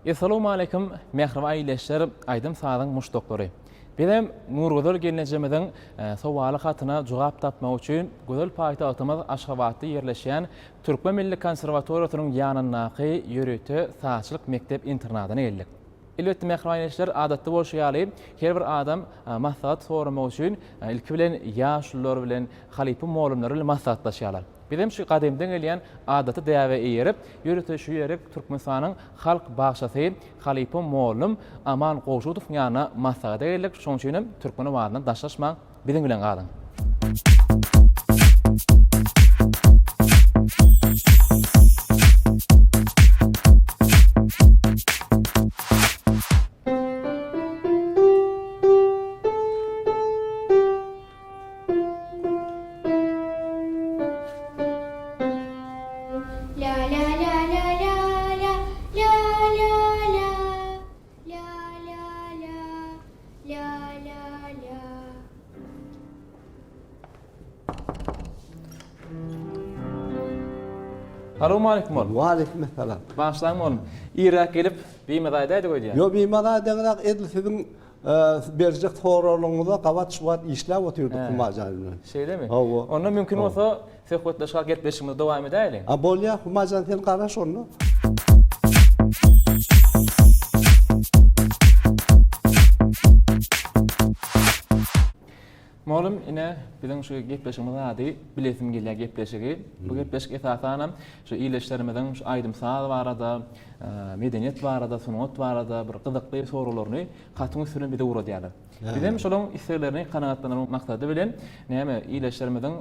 Essalawmaleýkim mähribaý leşler aýdym sazyň muşdaklary. Bizem Nurgüzel gelnejemiziň sowaly hatyna jogap tapmak üçin gözel paýtagtymyz Aşgabatda ýerleşýän Türkmen milli konserwatoriýasynyň ýanyndaky ýörite sazçylyk mekdep internadyna geldik. Elbetde mähribaý leşler adatda bolşy ýaly her bir adam maslahat soramak üçin ilki bilen ýaşulylar bilen halypa molymlar bilen maslahatlaşýarlar. Bizem şu gadymdan gelýän adaty däbe eýerip, ýörite şu ýerik Türkmenistanyň Halk bagşysy halypam mollum Aman Gowşudowyň ýanyna maslahata geldik, şonuň üçinem türkmen owazyndan daşlaşmaň, biziň bilen galyň. Salowmaleýkim oglum. Waleýkimessalam. Bagyşlaň oglum. Irräk gelip, bimazadaýdyk öýdýän. Ýok, bimazadaýdyňyzak edil siziň Berjek soraglaryňyza gabat şu wagt işläp otyrdyk Huma jaý bilen. Şeýlemi? Hawa. Onda mümkin bolsa söhbetdeşlik, gepleşigimizi dowam edäýeliň. A bolýar Huma jan sen garaş onda. Mugallym ine biziň şu gepleşigimiziň ady bilesim gelýär gepleşigi. Bu gepleşik esasanam şu ildeşlerimiziň şu aýdym saz barada, medeniýet barada, sungat barada bir gyzykly soraglaryny hatyň üstünden bize ugradýarlar. Bizem şolaryň isleglerini kanagatlandyrmak maksady bilen näme ildeşlerimiziň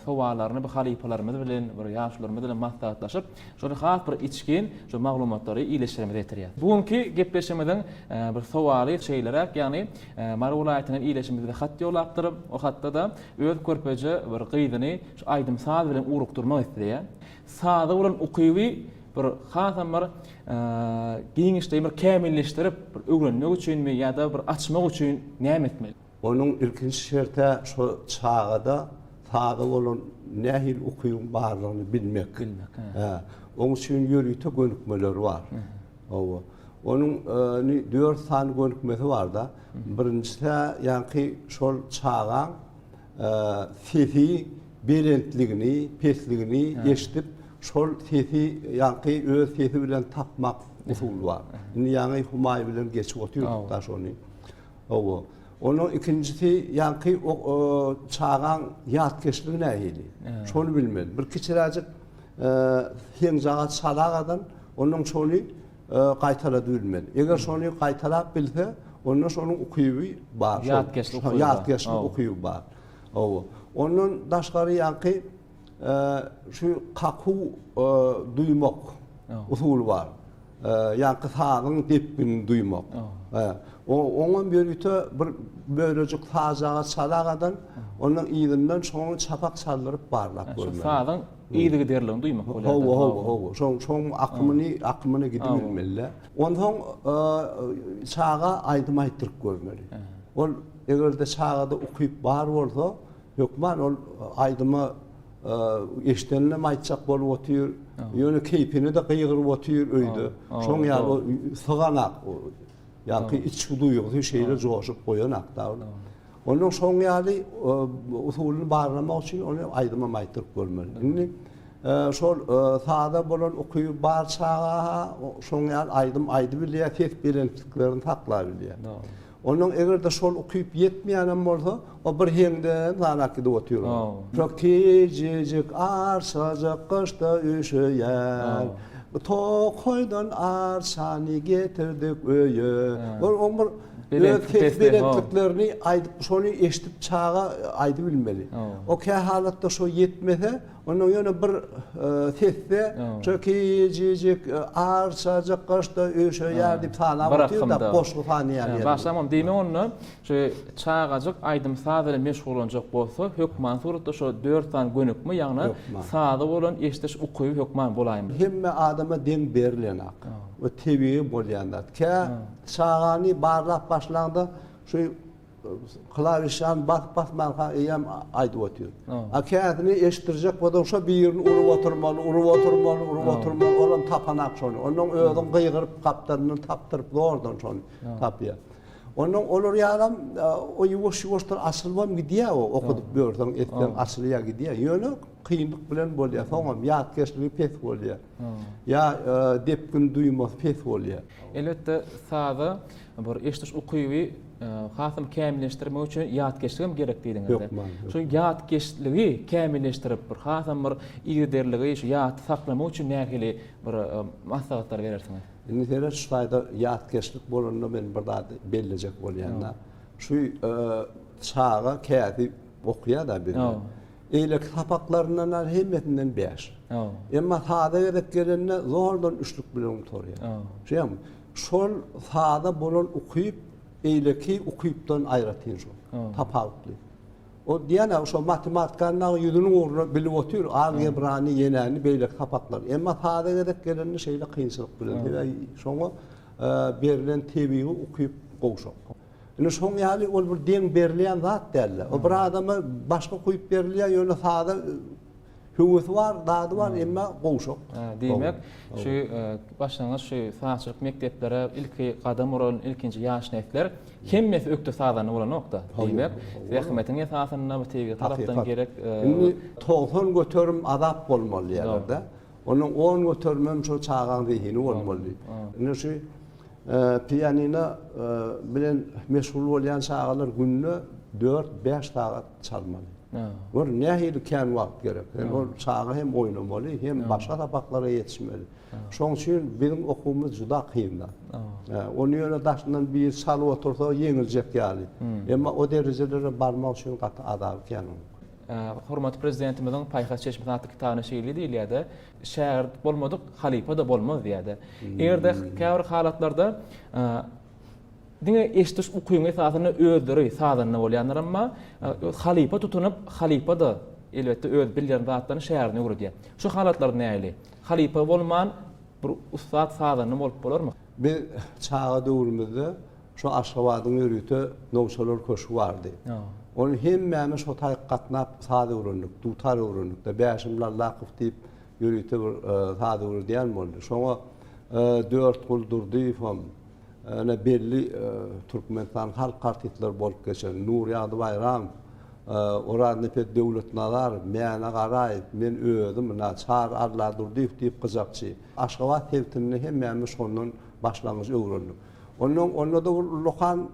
sowallaryny bu halypalarymyz bilen, bir ýaşularymyz bilen maslahatlaşyp, Şony has bir içgin şu maglumatlary iyileşdiremize getirýär. Bu günki gepleşimiziň bir sowaly şeýleräk, ýagny Mary welaýatyndan iyileşimiz bize hat ýolapdyr. O hatda-da öz körpeje bir gyzyny şu aýdym saz bilen ugrukdyrmak isleýär. Saza bolan ukyby bir hasam bir giňişleýin bir kämilleşdirip bir öwrenmek üçinmi ýa-da bir açmak üçin näme etmeli? Onuň ilkinji şert-ä şo çagada sada bolan nähili ukybyň barlygyny bilmek. Bilmek, hä. Oň üçin ýörite gönükmeler bar. Hawa. Onuň ni dört sany gönükmesi bar-da. Birinjisi-ä ýaňky şol çagaň sesi belentligini, pesligini eşidip, şol sesi ýaňky öz sesi bilen tapmak usuly bar. Indi ýaňy Humaý bilen geçip otyrdyk-da şony. Hawa. Onuň ikinjisi ýaňky çagaň ýatkeşligi nähili? Şony bilmeli. Bir kiçiräjik heňjaga çala gadan, onuň şony gaýtalady bilmeli. Eger şony gaýtalap bilse, onda şonuň ukyby bar. Ýatkeşlik ukyby bar. Ýatkeşlik ukyby bar. Hawa. Ondan daşgary ýaňky Şu kaku duýmak usuly bar. Ýaňky sazyň depginini duýmak. Oňam ýörite bir bölejik sajaga çalagadan, onuň yzyndan şoňa çapak çaldyryp barlap görmeli. Şu sazyň yzygiderligini duýmak bolýar. Hawa, hawa, hawa. Şoň, şoň akymyny, akymyny gidibilmeli. Onsoň çaga aýdym aýtdyryp görmeli. Ol eger-de çagada ukyp bar bolsa, Hökman ol aýdymy eşideninem aýtjak bolup otyr. Ýöne keýpini-de gygyryp otyr öýde. Şoň ýaly syganak ýa-ki içki duýgusy şeýle joşup goýanakda. Onuň şoň ýaly usulyny barlamak üçin ony aýdymam aýtdyryp görmeli. Indi şol saza bolan ukyby bar çaga-ha şoň ýaly aýdym aýdyp bilýär, ses belentliklerini saklap bilýär. Ondan eger-de şol ukyp ýetmeýänem bolsa, o bir heňde zalak gidip otyr. Kök tejejik arçajyk gyşda üşeýär. Tokaýdan arçany getirdik öýe. Ol oň bir öz ses belentliklerini aýdyp, şony eşidip çaga aýdybilmeli. O kähalatda şo ýetmese, Ondan ýöne bir sesde şo kicicik arçajyk gaşda öýşeýär diýip salap otyrda goşgy sanaýar ýeri. Başlam onu diýme onda. Şu çagajyk aýdym-saz bilen meşgullanjak bolsa, hökman suratda şo dört sany gönükme, ýagny saza bolan eşidiş ukyby hökman bolaýmaly. Hemme adama deň berilenok. Bu tebigy bolýan zat. Kä çagany barlap başlaňda şu Klawişany basyp basmanka eýýäm aýdyp otyr. A käsini eşitdirjek bolsaň şo birini urup oturmaly, urup oturmaly, urup oturmaly, olam tapanak şony. Onnoň özüň gygyryp gapdalyndan tapdyryp zordan şony tapýar. Onnoň olar ýalam o ýuwaş ýuwaşdan açylybam gidýär o okudyp ýörseň etseň açylýar gidýär. Ýöne kynlyk bilen bolýar. Soňam ýatkeşligi pes bolýar. Ýa depgin duýmasy pes bolýar. Elbetde saza Bir eşdiş ukyby hasam kämilleşdirmek üçin ýatkeşlik hem gerek diýdiňizde. Şu ýatkeşligi kämilleşdirip, bir hasam bir yzyderligi şu ýatda saklamak üçin nähili bir maslahatlar berersiňiz? Indi seret şu taýda ýatkeşlik bolanda men bir zady bellejek bolýan-da. Şu çaga kädi okýa-da bize. Eýleki sapaklaryndan-a hemmesinden bäş. Emma sada gezek gelende zordan üçlük bilen gutarýar. Şeýdami? Şol sada bolan ukyp beýleki ukypdan aýratyn şol. Tapawutly. Ol diýýän-ä şo matematikanyň dagy ýüzüniň ugruna bilip otyr, algebrany, ýenäni, beýleki sapaklary. Emma sada gezek gelende şeýle kynçylyk bilen. Sebäbi şoňa berlen tebigy ukyp gowşak. Indi şoň ýaly ol bir deň berilýän zat däl-de. O bir adama başga ukyp berilýär, ýöne sada Höwesi bar, dady bar, emma gowşak. Diýmek, şu başlangyç şu sazçylyk mekdeplere ilki gadam uran ilkinji ýaş nesler hemmesi ökde sazanda bolanok-da. Diýmek, zähmetiň esasynda bu tebigy tarapdan gerek. Indi togsan göterim azap bolmaly diýýärler-de. Onuň on göterimem şol çagaň zehini bolmaly. Indi şu pianino bilen meşgul bolýan çagalar günde dört-bäş sagat çalmaly. Gör, nähili kän wagt gerek. Hem ol çaga hem oýnamaly, hem başga sapaklara ýetişmeli. Şoň üçin biziň okuwymyz juda kyn-da. Ony ýöne daşyndan biri çalyp otursa, ýeňiljek ýaly. Emma o derejelere barmak üçin gaty azaby kän onuň. Hormatly Prezidentimiziň Paýhas çeşmesi atly kitabynda şeýle diýilýär-de, Şägirt bolmadyk halypa-da bolmaz diýýär-de. Eger-de käbir halatlarda Diňe eşidiş ukyň esasynda özleri sazanda bolýanlar emma halypa tutunyp halypa-da elbetde öz bilýän zatlaryny şägirtine öwredýär. Şu halatlar nähili? Halypa bolman bir ussat sazanda bolup bolarmy? Biz çaga döwrümizde şu Aşgabadyň ýörite Nowçalar köşgi bardy. Ony hemmämiz şo taýyk gatnap saz öwrendik, dutar öwrendik-de. Bäşim Lallakow diýip ýörite bir saz öwredýän boldy. Şoňa Dörtgul Durdyýewem, ýene belli Türkmenistan halk artistleri bolup geçen Nurýagdy Baýramow, Oraznepe Döwletnazarow, Mäne Garaýew, men özüm, Çary Alladurdyýew diýip gyjakçy. Aşgabat sebitinde hemmämiz şondan başlangyç öwrendik. Ondan onda-da bir ullakan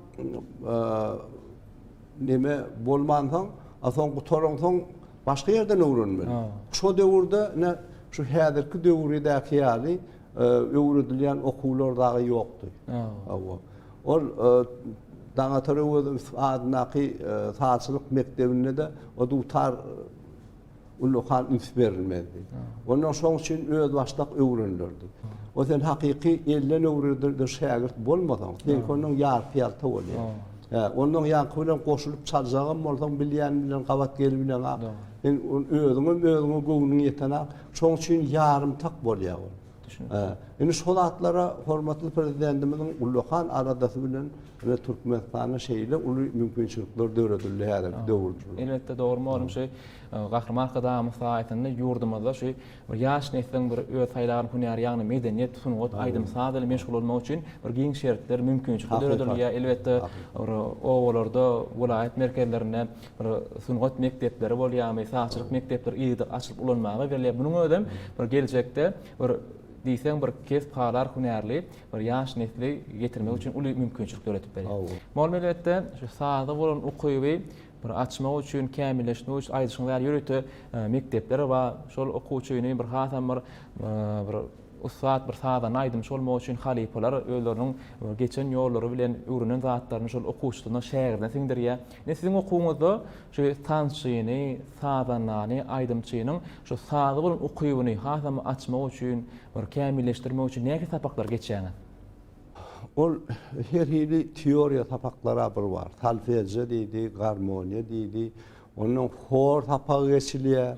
neme bolmansoň, a soň gutaransoň başga ýerden öwrenmeli. Şo döwürde ine şu häzirki döwürdäki ýaly öwredilýän okuwlar dagy ýokdy. Hawa. Ol Daňatar Öwezow adyndaky sazçylyk mekdebinde-de o dutar ullakan üns berilmezdi. Onda şoň üçin özbaşdak öwrenilirdi. O sen hakyky elden öwredilen şägirt bolmasaň, seňki ondan ýarpy-ýalta bolýar. Hä, ondan ýaňky bilen goşulyp çaljagam bolsaň, bilýän bilen gabat gelip bileňok. Sen özüňem özüňe göwnüň ýetenok. Şoň üçin ýarymtak bolýar ol. Düşünipdir. Indi şo zatlara hormatly Prezidentimiziň ullakan aladasy bilen ine Türkmenistanda şeýle uly mümkinçilikler döredildi häzirki döwürde. Elbetde dogry mugallym şu Gahryman Arkadagymyz saýasynda ýurdumyzda şu bir ýaş nesliň bir öz saýlaýan hünäri ýagny medeniýet, sungat, aýdym saz bilen meşgul bolmagy üçin bir giň şertler, mümkinçilikler döredilýär. Elbetde bir obalarda, welaýat merkezlerinde bir sungat mekdepleri bolýarmy, sazçylyk mekdepleri yzyda açylyp ulanmaga berilýär. Munuň özem bir geljekde bir diýseň bir kesp halar hünärli bir ýaş nesli getirmek üçin uly mümkinçilik döredip berýär. Mol meletde şu saza bolan ukyby bir açmak üçin, kämilleşmek üçin aýdyşyňyz ýaly ýörite mekdepler bar. Şol okuwçyny bir hasam bir bir Ussat bir sazanda aýdymçy bolmak üçin halypalar özleriniň geçen ýollary bilen öwrenen zatlaryny şol okuwçysyna, şägirdine siňdirýär. Ine siziň okuwyňyzda şu tansçyny, sazandany, aýdymçynyň şu saza bolan ukybyny hasam açmak üçin, bir kämilleşdirmek üçin nähili sapaklary geçýäňiz? Ol her hili teoriýa sapaklary-a bir bar. Solfežýo diýdi, garmoniýa diýdi. Ondan hor sapagy geçilýär.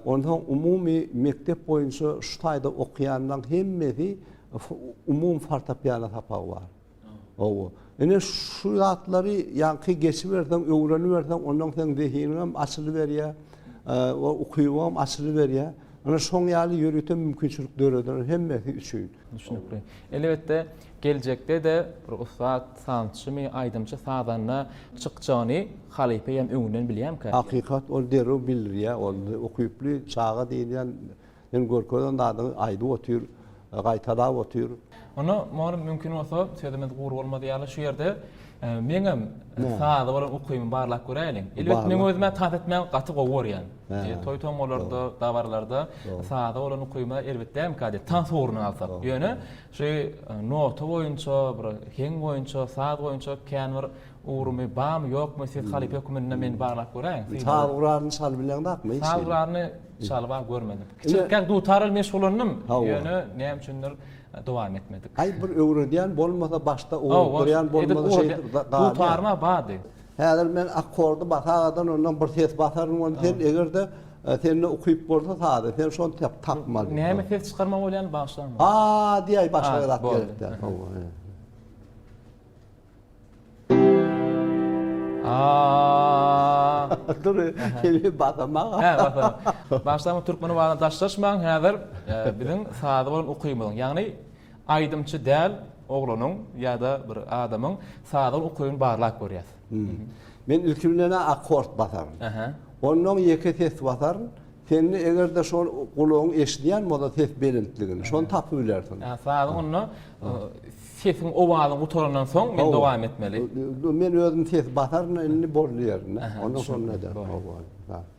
Onsoň umumy mekdep boýunça şu taýda okaýanlaň hemmesi umumy fortepiano sapagy bar. Hawa. Ine şu zatlary ýaňky geçiberseň, öwreniberseň, ondan seň zehiniňem açylyberýär, we ukybyňam açylyberýär. Ine şoň ýaly ýörite mümkinçilik döreder hemmesi üçin. Elbetde, Geljekde-de bir ussat sazçymy, aýdymçy, sazanda çykjagyny halypa eýýäm öňünden bilýärmikä? Hakykat ol derrew bildirýär, ol ukyply çaga diýilýän ýene görkezen zadyňy aýdyp otyr, gaýtalap otyr. Onda mugallym mümkin bolsa sözümiz gury bolmadyk ýaly şu ýerde meňem saza bolan ukybymy barlap göräýliň. Elbet meň özüm-ä tans etmäni gaty gowy görýän. Toý-tomalarda, dabaralarda saza bolan ukybyma erbet dälmikä diýip tans ugruna alsak. Ýöne Şu nota boýunça, bir heň boýunça, saz boýunça kän bir ugrumy barmy, ýokmy, siz halypa höküminde meni baglap göräýiň. Saz guralyny çalyp bileňzakmy hiç? Saz guralyny çalyp-a görmedim. Kiçilikden dutar bilen meşgullandym, ýöne näme üçindir dowam etmedik. Aý, bir öwredýän bolmasa, başda urup durýan bolmasa şeýdip galýar. Dutaryma bardy. Häzir men akkordy basagadan ondan bir ses basaryn ony sen egerde sende ukyp bolsa sazy sen şony tep tapmaly. Näme ses çykarma bolýany bagyşlaň. A diýäý başga zat gerek däl. A. Dur. Hemi basamak. Hä basamak. Bagyşlaň türkmen wagtyna daşlaşmaň häzir biziň sazy bolan ukymyzyň ýagny Aýdymçy däl oglanyň ýa-da bir adamyň sazyň ukybyny barlap görýäs. Men ilki bilenä akkord basaryn. Onnoň ýeke ses basaryn. Sende eger-de şol gulagyň eşidýän bolsa ses belentligini, şony tapybilersiň. Ýa sazyň onda sesiň owazyň gutarandan soň men dowam etmeli. Men özüm ses basaryn indi boldy ýerinde. Onda şonda ederin.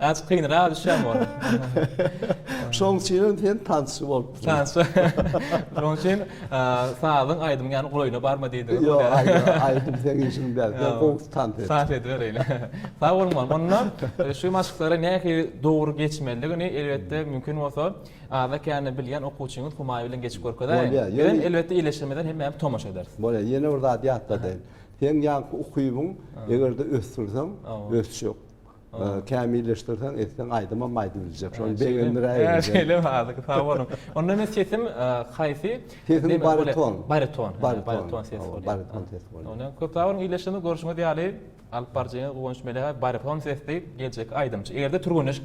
Azk kynraga düşýäň ol. Şoň üçinem sen tansçy bolup. Tansçy. Şoň üçin sazyň aýdymyň ýany golaýyna barma diýdi. Ýok, aýdym sen işiň däl. Sen gowy tans et. Tans edibereýin. Sag boluň bolmam. Onda şu maşklary nähili dogry geçmelidigini elbetde mümkin bolsa aza kände bilýän okuwçyňyz Humaý bilen geçip görkezäýiň. Bolýar. Elbetde ýerleşdirmeden hemmämiz tomaşa ederis. Bolýar. Ýene bir zat ýatladaýyn. Seň ýaňky ukybyň eger-de ösdürseň, ösjek. Kämilleşdirseň, etseň, aýdymam aýdyp biljek. Şony begendiräýiň. Hä, şeýlemi? Azyk sag boluň. Onda men sesim haýsy? Sesiň bariton. Bariton. Bariton ses bolýar. Bariton ses bolýar. Onda köp sag boluň. Ildeşimiz görşüňiz ýaly, alyp baryjyňyz Guwanç Melekow bariton sesli geljekki aýdymçy. Eger-de türgenleşik